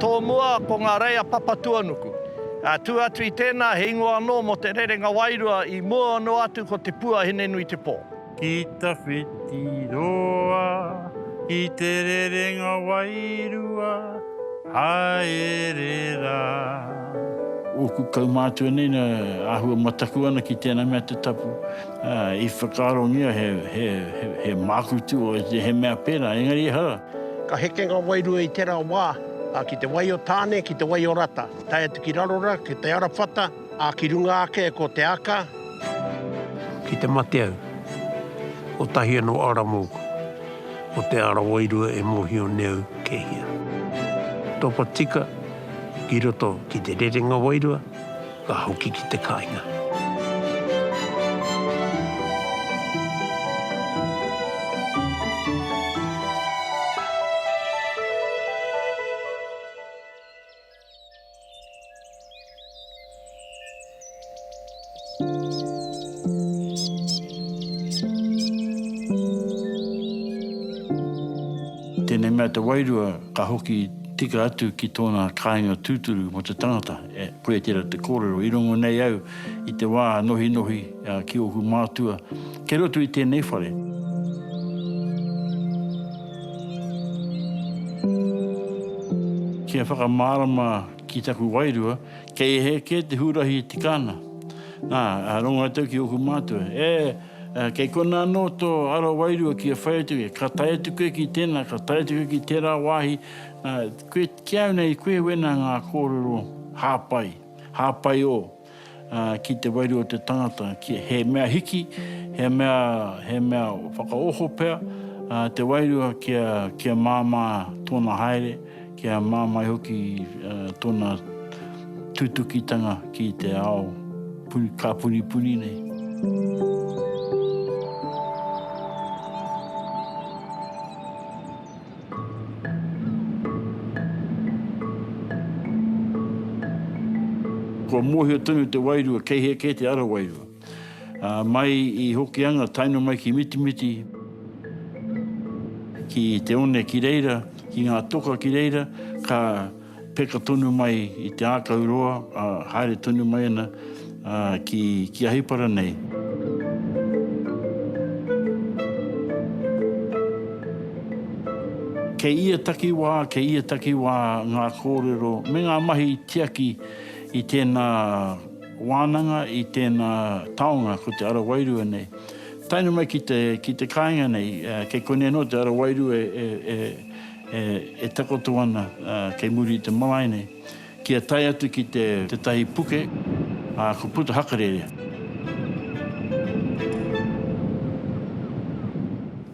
Tōmua, ko ngā reia Papatuanuku. Tū atu i tēnā, he ingoa anō mō te rerenga wairua i mua noa atu ko Te Pua Hinenuitepō. Ki ta whiti roa i te rerenga wairua haere ra. Oku kaumātua nei na ahua mataku ana ki tēnā mea te tapu. I whakaarongia he māku tua i te he mea pērā, engari ehara. Ka heke ngā wairua i tērā wā, ā, ki te wai o Tāne, ki te wai o Rata, tae atu ki Rarora, ki te Arawhata, ā, ki runga ake ko Te Aka, ki te Mateau, kotahi anō ara mōku, ko te ara wairua e mōhio nei au kei hea. Topatika ki roto ki te rerenga wairua, Ka hoki ki te kainga. Tēnei mea te wairua ka hoki tika atu ki tōna kāinga tūturu mō te tangata. E Puetera te kōrero, i rongo nei au i te wā nohinohi ki ōku mātua kei roto i tēnei whare. Kia whakamārama ki taku wairua, kei ehe kē te hurahi i te kāna. Nā, rongo atu au ki ōku mātua, E, kei konā anō tō ara wairua kia whai atu koe, ka tae atu koe ki tēnā, ka tae atu koe ki tērā wāhi, nā, koe. Ki au nei, koe wena ngā kōrero hāpai, hāpai ō, ā, ki te wairu o te tangata, ki, he mea hiki, he mea, he mea whakaoho pea, ā, te wairua kia, kia māmā tōna haere, kia māmai hoki, ā, tōna tutukitanga ki te ao puri, ka puripuri nei. Kua mōhio tonu te wairua kei hea kē te ara wairua, ā, mai i Hokianga taeno mai ki Mitimiti, ki Te One ki reira, ki ngā toka ki reira, ka. Peka tonu mai i te ākau roa, ā, haere tonu mai ana ki, ki Ahipara nei. Kei ia takiwā, kei ia takiwā ngā kōrero me ngā mahi tiaki i tēnā wānanga, i tēnā taonga, ko te ara wairua nei. Tae noa mai ki te, ki te kāinga nei, kei konei anō te ara wairua e, e, e. e takoto ana kei muri i te marae nei, kia tae atu ki te tētahi puke, ā, ko Puta Hakarere.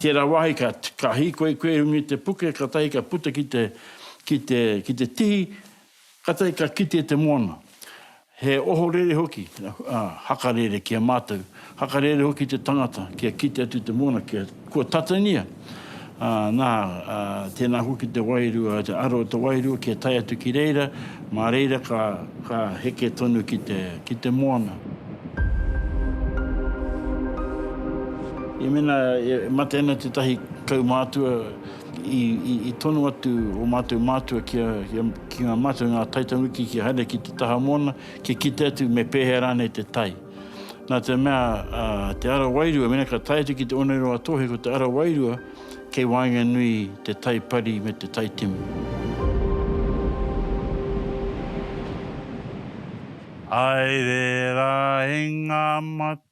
Tērā wāhi ka, ka hīkoi kuehunga i te puke, kātahi ka puta ki te, ki te, ki te tihi, Katai ka kite te moana. He ohorere hoki, hakarere ki a matou, hakarere hoki te tangata kia kite atu te moana kia kua tatangia, na, tena hoki te wairua, te aro o te wairua kia tae atu ki reira, ma reira ka, ka heke tonu ki te, ki te moana. I mena e mate ana tetahi kaumātua I, i, i tono atu o mātou mātua ki, a, ki, a, ki ngā mātua, ngā taitanuki ki haere ki te taha moana, ki kite atu me pēhea rānei te tai. Nā te mea, a, te ara wairua, mena ka tae atu ki te oneroa tohe, ko te ara wairua, kei waenga nui te tai pari me te tai timu. Haere rā e ngā mate.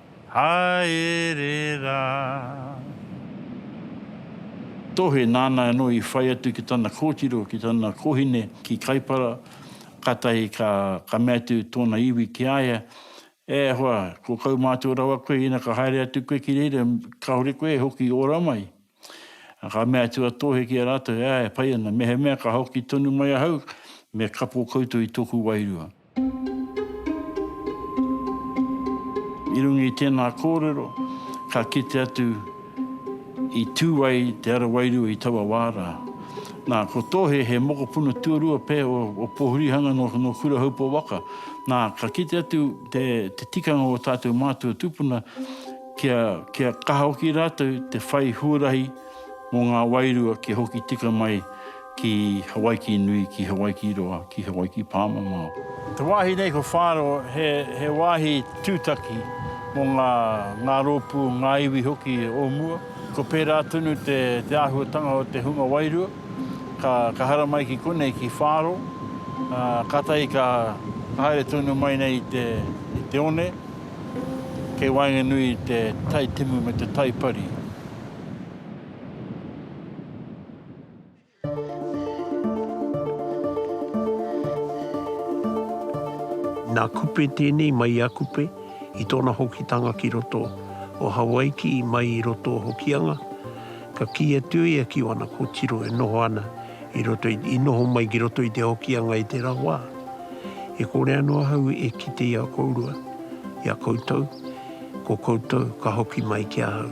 Haere rā. Tohe nāna anō i whai atu ki tana kōtiro, ki tana kōhine, ki Kaipara, kātahi ka mea atu tōna iwi ki a ia, E hoa, ko kaumātua rawa koe, ina ka haere atu koe ki reira, kāore koe e hoki ora mai. Ā, ka mea atu a Tōhe ki a rātou, E ā, e pai ana, mehemea ka hoki tonu mai ahau, me kapo koutou i tōku wairua. I runga i tēnā kōrero, ka kite atu i tū ai te ara wairua i taua wā rā. Nā, ko Tōhe he mokopuna tuarua pē o Pōhurihanga nō Kurahaupō waka. Nā, ka kite atu te tikanga o ō tātou mātua tūpuna, Kia, kia kaha hoki rātou te whai huarahi mō ngā wairua kia hoki tika mai ki Hawaiki nui, ki Hawaiki roa, ki Hawaiki pāmamao. Te wāhi nei ko Whāro he, he wāhi tūtaki mō ngā, ngā rōpū, ngā iwi hoki o mua. Ko pērā tonu te, te āhuatanga o te hunga wairua, ka, ka haramai ki konei, ki Whāro, ā, kātahi ka, ka haere tonu mai nei i te, i te one. Kei waenganui i te tai timu me te tai pari. Nā Kupe tēnei mai i a Kupe i tōna hokitanga ki roto o Hawaiki mai i roto o Hokianga, ka kī atu ia ki ōna kōtiro e noho ana i roto i, i noho mai ki roto i te Hokianga i te rawa, e kore ano ahau e kite i a kourua, i a koutou, ko koutou ka hoki mai ki ahau.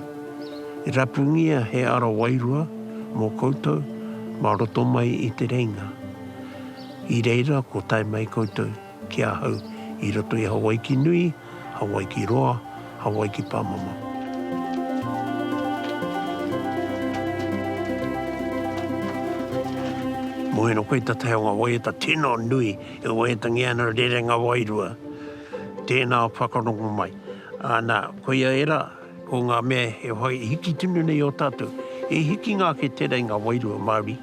E rapungia he ara wairua mo koutou ma roto mai i te reinga. I reira ko tae mai koutou ki ahau i roto i Hawaiki nui, Hawaiki roa, Hawaiki pamama. Moena koe ta te aonga waiata tena nui e waiata nge ana rerenga wairua. Tena whakarongo mai. Ana, koia era. Ko ngā mea e whai hiki tonu nei i ō tātou, he hikinga ake tērā i ngā wairua Māori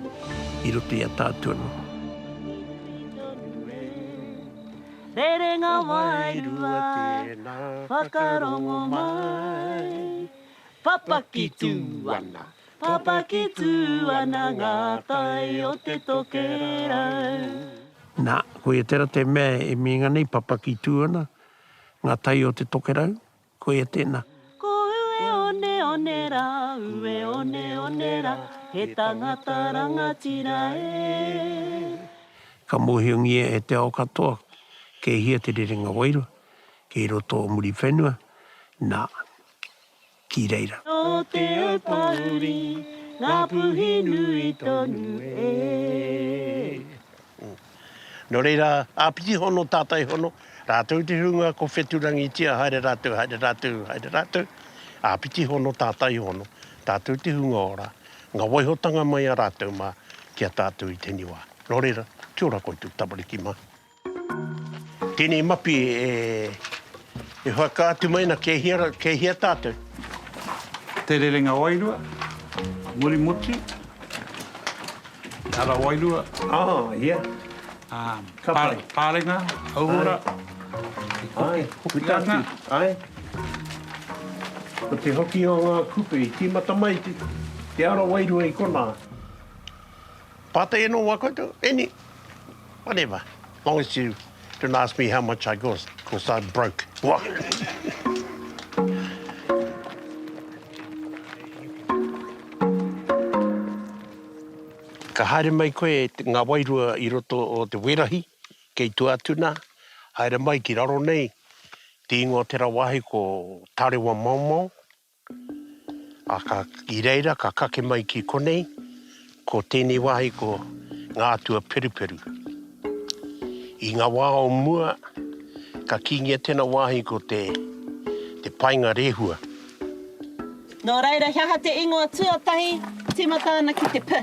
i roto i a tātou anō. Rerenga wairua tēnā, whakarongo mai. Papaki tū ana, papaki tū ana ngā tai o te tokerau. Nā, koia tērā te mea e meinga nei, papaki tū ana ngā tai o te tokerau. Koia tēnā. Ko Ueoneone rā, Ueoneone rā, he tangata rangatira e. Ka mōhiongia e te ao katoa, kei hea te rerenga wairua, kei roto o Muriwhenua, nā, ki reira. Nō Te Aupōuri, Ngāpuhi nui tonu e. Nō reira, āpiti hono tātai hono, rātou te hunga ko Wheturangitia haere rātou, haere rātou, haere rātou, āpiti hono tātai hono, tātou te hunga ora, ngā waihotanga mai a rātou mā ki a tātou i tēnei wā. Nō reira, kia ora koutou tamariki mā. Tēnei mapi e, e whakaatu mai ana kei hea, kei hea tātou. Te rerenga wairua, muri motu. Ara wairua. Oh, yeah. Ka pai. Pārenga, hauora, i hoki ana. Ae. Ko te hoki o ngā kupe i tīmata mai te ara wairua i konā. Pātai anō wā koutou, any, whatever, long as you. Don't ask me how much I got, cos I'm broke. Ka haere mai koe ngā wairua i roto o te werahi, kei tua atu nā, haere mai ki raro nei te ingoa o tērā wāhi ko Tarewa Maomao. Ā, ka, i reira ka kake mai ki konei, ko tēnei wāhi ko ngā atua Peruperu. I ngā wā o mua, ka kīngia tēnā wāhi ko te, te paenga rehua. Nō reira, he aha te ingoa tuatahi tīmata ana ki te p?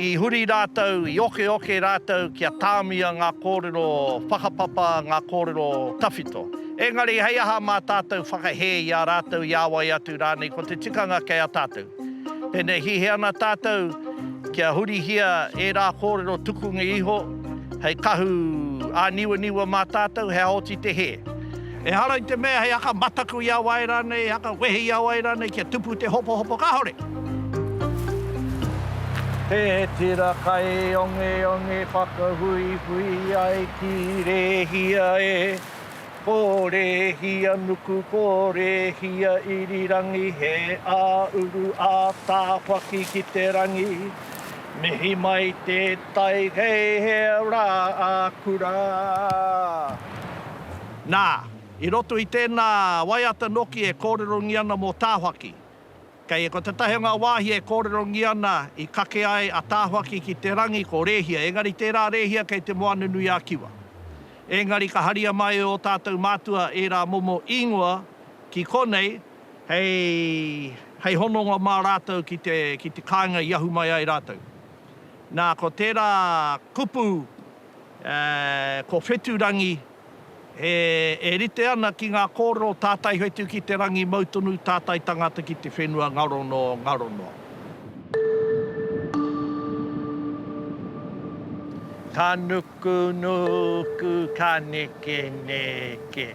I huri rātou, i okeoke rātou kia tāmia ngā kōrero whakapapa, ngā kōrero tawhito. Engari hei aha mā tātou whakahē i a rātou, i a wai atu rānei, ko te tikanga kei a tātou. Pēnei hihi ana tātou kia hurihia ērā kōrero tukunga iho hei kahu āniwaniwa mā tātou, he aha oti te hē. Ehara i te mea he haka mataku i a wai rānei, he haka wehe i a wai rānei kia tupu te hopohopo kahore. He tira kai ongeonge whakahuihui ai ki Rēhia e, ko Rēhia nuku, ko Rēhia irirangi, he ā-uru, ā-tāwhaki ki te rangi. Mihi mai te tai, hei hea rā ā-kura. Nā, i roto i tēnā waiata noki e kōrerongia ana mō Tāwhaki. Kei ko tētahi o ngā wāhi e kōrerongia ana i kake ai a Tāwhaki ki te rangi ko Rēhia, engari tērā Rēhia kei Te Moananui-a-Kiwa. Engari ka haria mai e ō tātou mātua ērā momo īngoa ki konei hei hononga mā rātou ki te kāinga i ahu mai ai rātou. Nā, ko tērā kupu Ko Wheturangi e rite ana ki ngā kōrero tātai whetu ki te rangi mau tonu tātai tangata ki te whenua ngaro noa, ngaro noa. Ka nukunuku, ka nekeneke.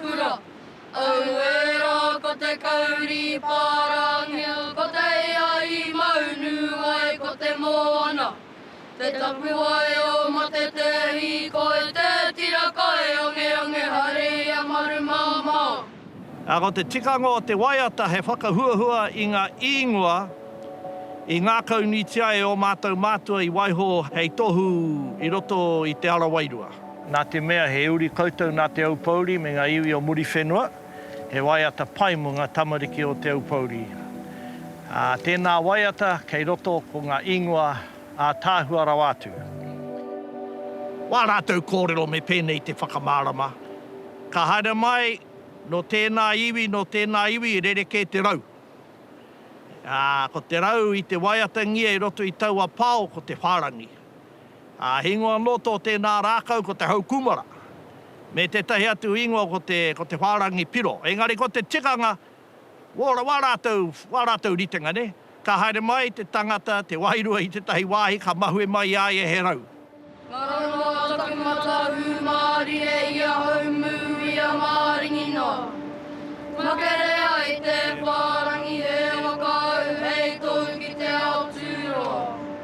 Kura. Auera ko te kauri pārangea ko te ia i maunu ai ko te moana te tapuwae o Matetehi koi te tira kai angeange hare i a Marumamao. A ko te tikanga o te waiata he whakahuahua i nga īngua i ngākaunuitia e o mātou mātua i waiho hei tohu i roto i te ara wairua. Nā te mea he uri koutou nā Te Aupōuri me ngā iwi o Muriwhenua, he waiata pai mō ngā tamariki o Te Aupōuri. Ā, tēnā waiata kei roto ko ngā ingoa ātaahua rawa atu. Wā rātou kōrero me pēnei te whakamārama, Ka haere mai nō tēnā iwi, nō tēnā iwi i rerekē te rau. Ā, ko te rau i te waiatangia i roto i taua pao ko te whārangi. Ā, ingoa noto o tēnā rākau ko te hau kūmara, me tētahi atu ingoa ko te, ko te whārangi piro. Engari ko te tikanga, wō, wā rātou, wā rātou ritenga, nē? Ka haere mai te tangata, te wairua i tētahi wāhi, ka mahue mai i a ia he rau. Nā runga a taku matā hūmārire i ahau mū i a Māringi nā. Makerea i te whārangi he waka au hei tou ki te ao tūroa.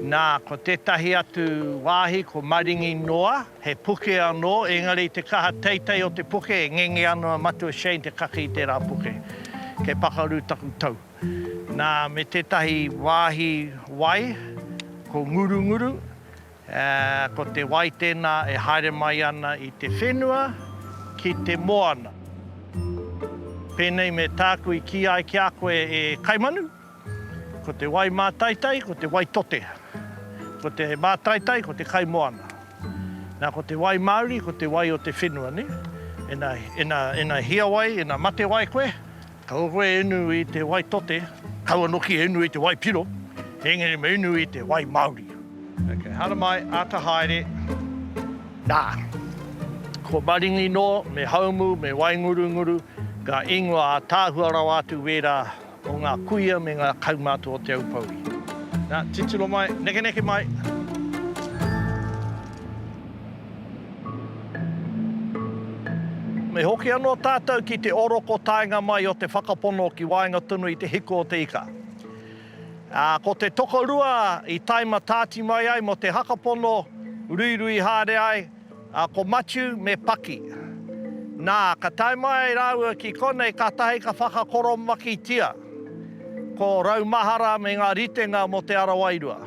Nā, ko tētahi atu wāhi ko Maringi noa, he puke anō, engari i te kaha teitei o te puke e ngenge ana a Matua Shane te kake i tērā puke. Kei pakaru taku tau. Nā, me tētahi wāhi wai, ko Ngurunguru, ā, ko te wai tēnā e haere mai ana i te whenua ki te moana. Pēnei me tāku i kī ai ki a koe e Kaimanu. Ko te wai mātaitai, ko te wai tote. Ko te mātaitai, ko te kai moana. Na, ko te wai māuri, ko te wai o te whenua, ne? Ena, ena, ena hia wai, ena mate wai koe, kaua koe e unu i te wai tote, kaua noki e unu i te wai piro, engari me unu i te wai māuri. Okay, haramai, ata haere. Na, ko Maringi noa, me Haumu, me Waingurunguru, nga ingoa ataahua rawa atu wera. Ko ngā kuia me ngā kaumātua o Te Aupōuri. Nā, titiro mai, nekeneke mai! Me hoki anō tātou ki te oroko taenga mai o te whakapono ki waenga tonu i te hiko o te ika. Ā, ko te tokorua i taima tāti mai ai mō te hakapono, ruirui haere ai, A ko Matiu me Paki. Na, ka tae mai raua ki konei katahi ka whakakoromakitia ko Raumahara me nga ritenga mo Te Ara Wairua.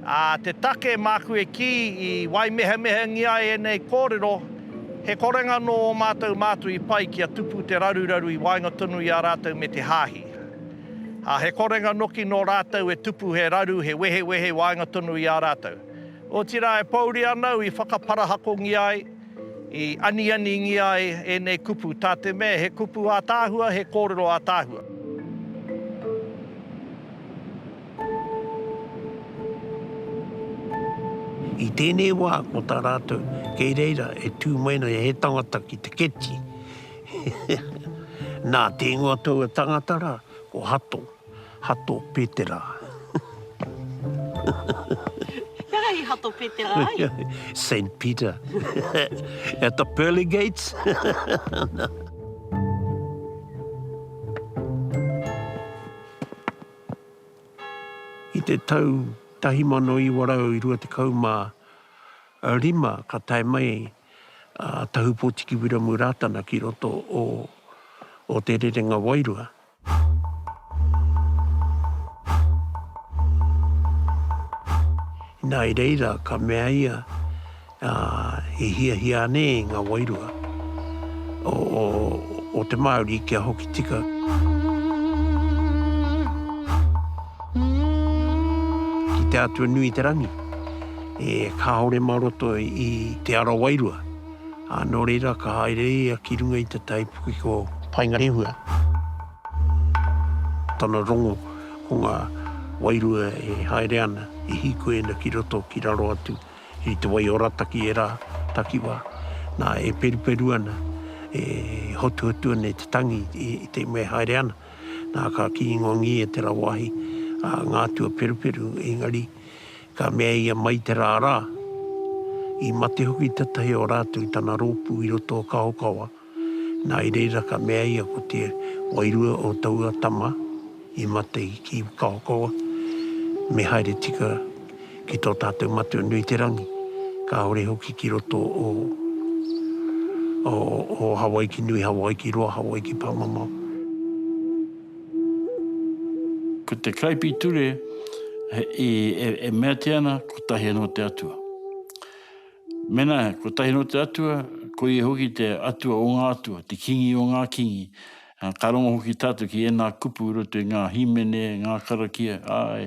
A, te take maku e ki i waimehemehengia ai enei korero, he korenga no o matou mātu i pai kia tupu te raruraru i waenga tonu i a ratou me te Haahi. A, he korenga noki no ratou e tupu he raru, he wehewehe i waenga tonu i a ratou. Otirā e pōuri ana au i whakaparahakongia ai, i anianingia ai ēnei kupu, tā te mea he kupu ātaahua, he kōrero ātaahua. I tēnei wā, ko tā rātou, kei reira e tū mai nei he tangata ki te keti. Nā, tēngoa taua tangata rā, ko Hato. Hato Petera. Kia ra i Hato Petera ai? Saint Peter. At the pearly gates. I te tau 1925 ka tae mai a Tahupotiki Wiramu Ratana ki roto o Te Rerenga Wairua. Inā i reira ka mea ia, i hiahia anē ngā wairua o te Māori kia hokitika? Ki te Atua Nui-te-rangi, kāore mā roto i te ara wairua. Ā, nō reira, ka haere ia ki runga i te taipuke ko. Paengarehua. Tana rongo, ko ngā wairua e haere ana, i hīkoena ki roto, ki raro atu i te wai o Rataki ērā takiwā. Nā, e peruperu ana, e hotuhotu ana i te tangi i te mea e haere ana. Nā, ka kīngongi e te rā wāhi, ā, ngā atua peruperu, engari. Ka mea ia mai te rā rā, i mate hoki tetahi o rātou i tana rōpū i roto o Kahokawa, nā i reira ka mea ia ko te wairua o taua tama i mate ki Kahokawa, me haere tika ki tō tātou matua nui te rangi, kāore hoki ki roto o o Hawaiki nui, Hawaiki roa, Hawaiki pāmamao. Ko te Karaipiture e, e, e meatia ana kotahi anō te atua. Mena kotahi anō te atua, ko ia hoki te atua o ngā atua, te kingi o ngā kingi. Ka rongo hoki tātou ki ēnā kupu roto i ngā hīmene, ngā karakia, āe,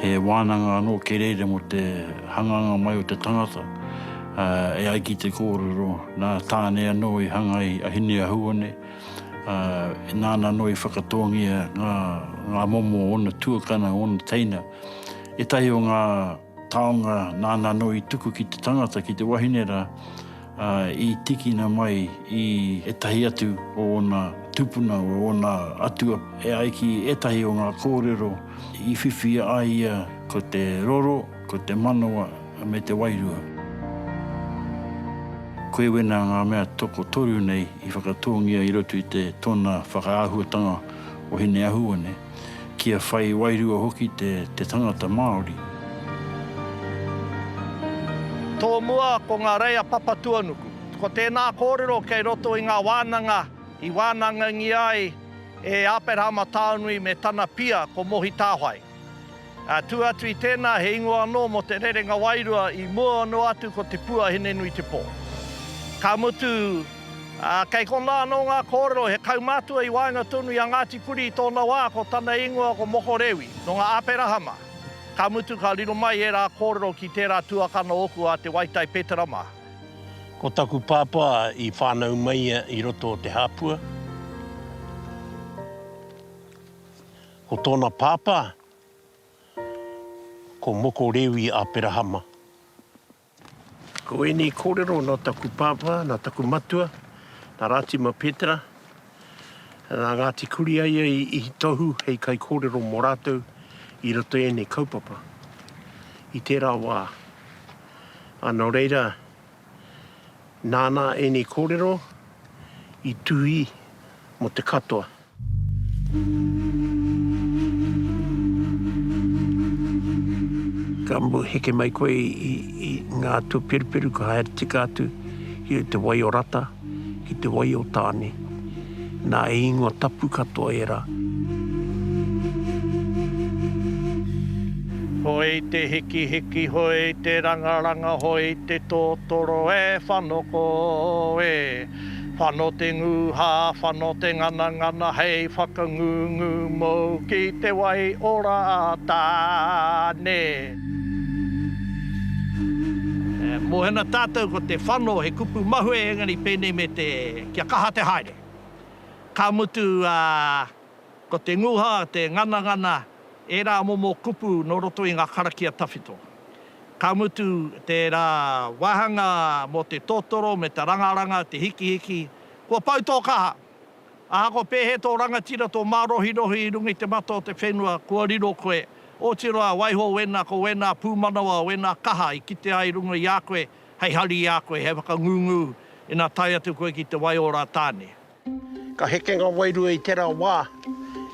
He wānanga anō kerēre mō te hanganga mai o te tangata, ā, e ai ki te kōrero, nā Tāne anō i hanga ai a Hineahuone, ā, nāna anō i whakatōngia ngā, ngā momo o ōna tuakana, o ōna teina. Ētahi o ngā. taonga nāna anō i tuku ki te tangata, ki te wahine rā, ā, i tīkina mai i ētahi atu o ōna tūpuna, o ōna atua, e ai ki ētahi o ngā kōrero i whiwhi a ia ko te roro, ko te manawa, me te wairua. Koe wena ngā mea tokotoru nei i whakatōngia i roto i te tōna whakaahuatanga o Hineahuone. kia whai wairua hoki te tangata Māori. Tō mua ko ngā reia Papatuanuku. Ko tēnā kōrero kei roto i ngā wānanga i wānangangia ai e Āperahama Taonui me tana pia ko Mohi Tāwhai. Atu atu i tēnā, he ingoa anō mō te rerenga wairua i mua noa atu ko Te Pua Hinenuitepō. Ka mutu, kei konā anō ngā kōrero he kaumātua i waenga tonu i a Ngāti Kuri i tōna wā, ko tana ingoa ko Moko Rewi, nō ngā Aperahama. Ka mutu, ka riro mai ērā kōrero ki tērā tuakana ōku a Te Waitai Petera mā. Ko taku pāpā i whānau mai ia i roto o Te Hāpua. Ko tōna pāpā, ko Moko Rewi Aperahama. Ko ēnei kōrero nā taku pāpā, nā taku matua, nā Rātima Petera, nā Ngāti Kuriaia i Ihitohu hei kaikōrero mō rātou i roto i ēnei kaupapa, i tērā wā. Ā, nō reira, nāna ēnei kōrero i tuhi mō te katoa. Ka moe heke mai koe i ngā tuperuperu ka haere tika atu ki te wai o Rata, ki te wai o Tāne. Nā, he ingoa tapu katoa ērā. Hoi te hikihiki, hoi te rangaranga, hoi te totoro e whanoko e. Whano te nguha, whano te nganangana hei whakangungu mou ki te wai ora a Tāne. Mohena tātou ko te whano he kupu mahue engari pēnei me te kia kaha te haere. Ka mutu a. Ko te nguha, te nganangana, ērā momo kupu nō roto i ngā karakia tawhito. Ka mutu, tērā wāhanga mō te totoro me te rangaranga, te hikihiki, kua pau tō kaha. Ahakoa pēhea tō rangatira, tō mārohirohi i runga i te mata o te whenua, kua riro koe, oti roa, waiho wēnā ko wēnā pūmanawa, wēnā kaha i kite ai runga i a koe, hei hari i a koe, hei whakangungu ina tae atu koe ki te wai o Rātāne. Ka heke ngā wairua i tērā wā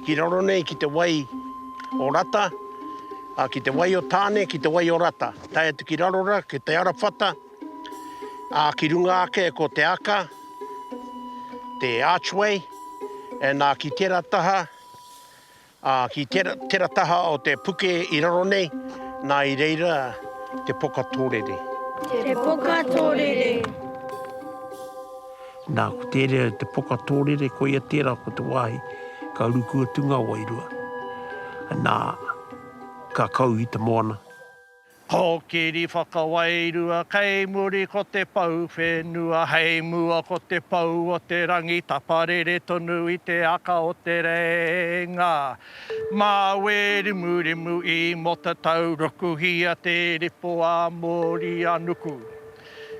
ki raro nei ki te wai o Rata, ā, ki te wai o Tāne, ki te wai o Rata, tae atu ki raro rā, ki Te Arawhata, ā, ki runga ake ko Te Aka, te Archway, ā, ki tērā taha, Ā, ki tera taha o te puke i raro nei, nā i reira te poka tōrere. Te poka tōrere. Nā, ko tērā te poka tōrere, koia tērā ko te wāhi ka ruku atu ngā wairua, nā, ka kau i te moana. Kōkiri whakawairua kei muri ko te pou whenua hei mua ko te pou o te rangi taparere tonu i te aka o te rēinga mā Wērimurimu i Motatau rukuhia te ripoa mōri a Nuku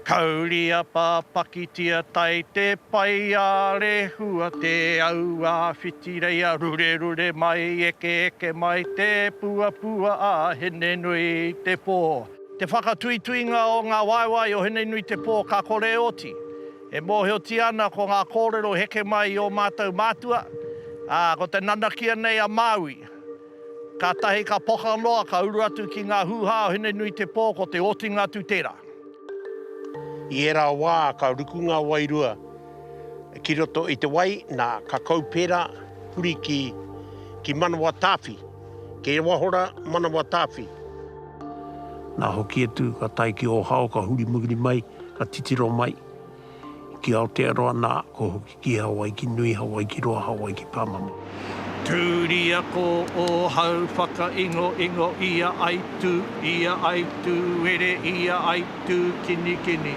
Kauria pa pakitia tai te pai a rehua te au a whitireia rurerure mai ekeeke mai te puapua a Hinenui te po. Te whakatuituinga o nga waewae o Hinenui te po ka kore oti e mohiotia ana ko nga korero heke mai i o matou matua, a ko te nanakia nei a Maui. Kātahi ka poka noa, ka uru atu ki ngā hūhā o Hinenuitepō, ko te otinga atu tērā. I ērā wā ka ruku ngā wairua ki roto i te wai, nā, ka kaupera huri ki, ki Manawatāwhi, ki Ewahora Manawatāwhi. Nā, hoki atu, ka tae ki Ōhao, ka huri muri mai, ka titiro mai ki Aotearoa, nā, ko. Ki Hawaiki nui, Hawaiki roa, Hawaiki pamamo. Turi ako ohau whakaingo ingo ia ai tu, ia ai tu were ia ai tu kini kini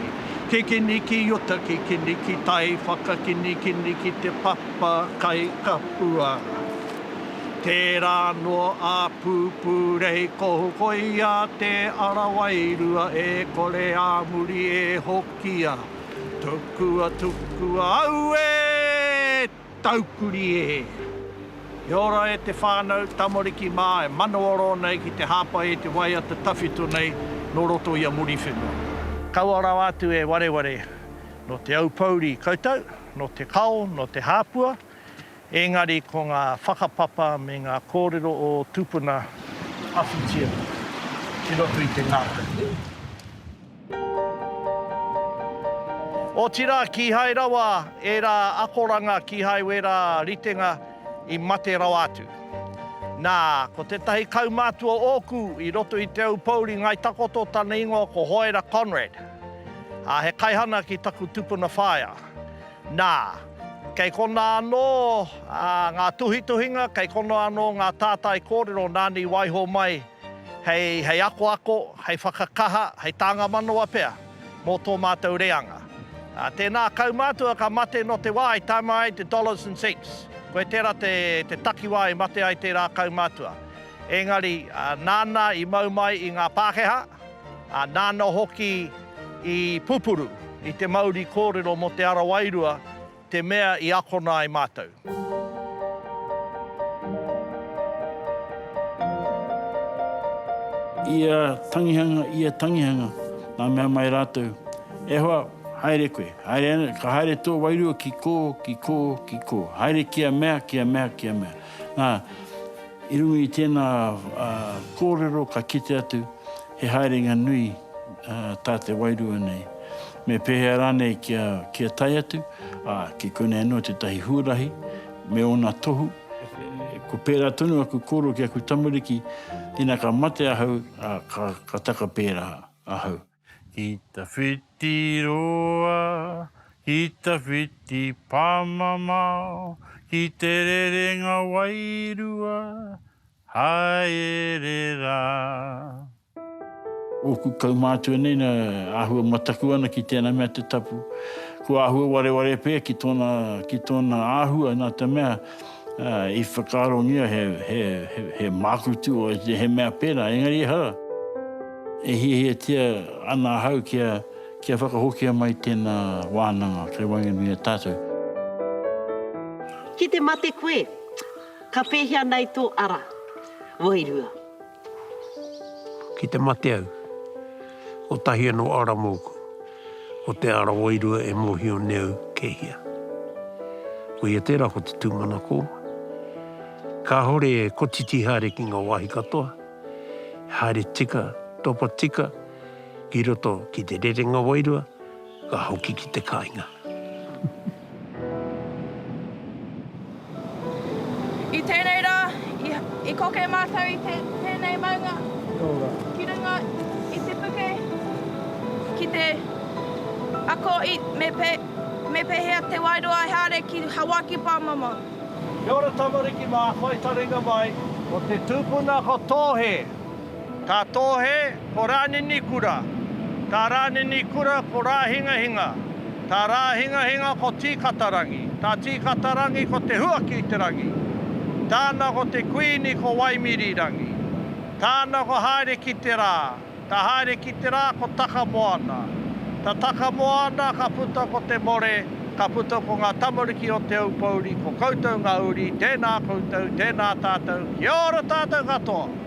Ke kini ki ota ki kini ki tai whakakini kini ki te papa kai kapua Tera noa a pupu rei kohukoia te ara wairua e kore a muri e hoki kia tukua tukua au e taukuri e. Kia ora e te whanau tamariki ma e manawa ro nei ki te hapai e te waiata tawhito nei no roto ia Muriwhenua. Kaua rawa atu e wareware no te aupouri koutou, no te kao, no te hapua, Engari ko ngā whakapapa me ngā kōrero o ō tupuna, awhitia ki roto i te ngākau. Otirā kīhai rawa ērā akoranga kīhai wērā ritenga i mate rawa atu. Nā, ko tētahi kaumātua ōku i roto i Te Aupōuri Ngāi Takoto tana ingoa ko Hoera Conrad, ā, he kaihana ki taku tupuna whaea. Nā, kei konā anō ngā tuhituhinga, kei konā anō ngā tātai kōrero nāna i waiho mai hei akoako, hei whakakaha, hei tānga manawa pea mō tō mātou reanga. Tēnā kaumātua ka mate nō te wā i tama ai te dollars and cents, koe tērā te takiwā i mate ai tērā kaumātua. Engari, nāna i mau mai i ngā Pākehā, nāna hoki, I pupuru i te mauri kōrero mō Te Ara Wairua te mea i akona ai mātou. Ia tangihanga, ia tangihanga, nā mea mai rātou, E hoa, haere koe, haere ana, ka haere tō wairua ki kō, ki kō, ki kō, haere kia mea, kia mea, kia mea. Nā, i runga i tēnā kōrero ka kite atu, He haerenga nui tā te wairua nei. Me pēhea rānei kia tae atu? Ā, ki konei anō tētahi huarahi me ōna tohu, Ko pērā tonu aku koro ki aku tamariki, ina ka mate ahau, ā, ka taka pērā ahau. Ki ta whiti roa, ki ta whiti pāmamao, ki te rerenga wairua, haere rā. Ōku kaumātua nei na āhua mataku ana ki tēnā mea te tapu. Kua āhua wareware pea ki tōna, ki tōna āhua nā te mea i whakaarongia he, he, he mākutu o ētahi, he mea pērā, engari ehara. E hiahiatia ana ahau kia, kia whakahokia mai tēnā wānanga kei waenganui i a tātou. Ki te mate koe. Ka pēhea nei tō ara? Wairua. Ki te mate au, kotahi anō ara mōku, ko te ara wairua e mōhio nei au kei hea. Koia tērā ko te tūmanako. Kāore e kotiti haere ki ngā wāhi katoa, e haere tika, topa tika ki roto ki te rerenga wairua, Ka hoki ki te kainga. I tēnei rā, i koke mātou i tēnei maunga ki runga i te puke ki te ako i me pēhea te wairua e haere ki Hawaiki pāmama. Kia ora tamariki mā, whai taringa mai. Ko te tupuna ko Tōhe. Tā Tōhe ko Rānini Kura, tā Rānini Kura ko Rāhingahinga, tā Rāhingahinga ko Tīkatarangi, tā Tīkatarangi ko Te Huaki-i-te-rangi, tāna ko te kuini ko Waimiri-rangi, tāna ko Haere-ki-te-rā, tā Haere-ki-te-rā ko Takamoana, tā Takamoana ka puta ko Te More, ka puta ko ngā tamariki o Te Aupōuri, ko koutou ngā uri, tēnā koutou, tēnā tātou, kia ora tātou katoa!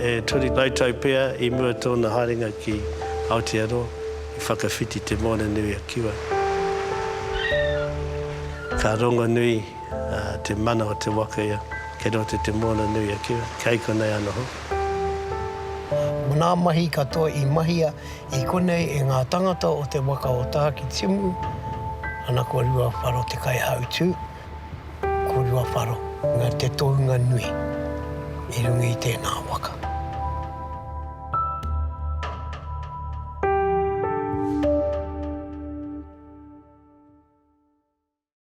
E toru rautau pea i mua tōna haerenga ki Aotearoa, i whakawhiti te Moana-nui-a-Kiwa. Ka rongonui te mana o te waka ia kei roto i te Moana-nui-a-Kiwa, kei konei anō. Ngā mahi katoa i mahia i konei e ngā tāngata o te waka o Tākitimu, ana ko Ruawharo te kaihautū. Ko Ruawharo na te tounga nui i runga i tēnā waka.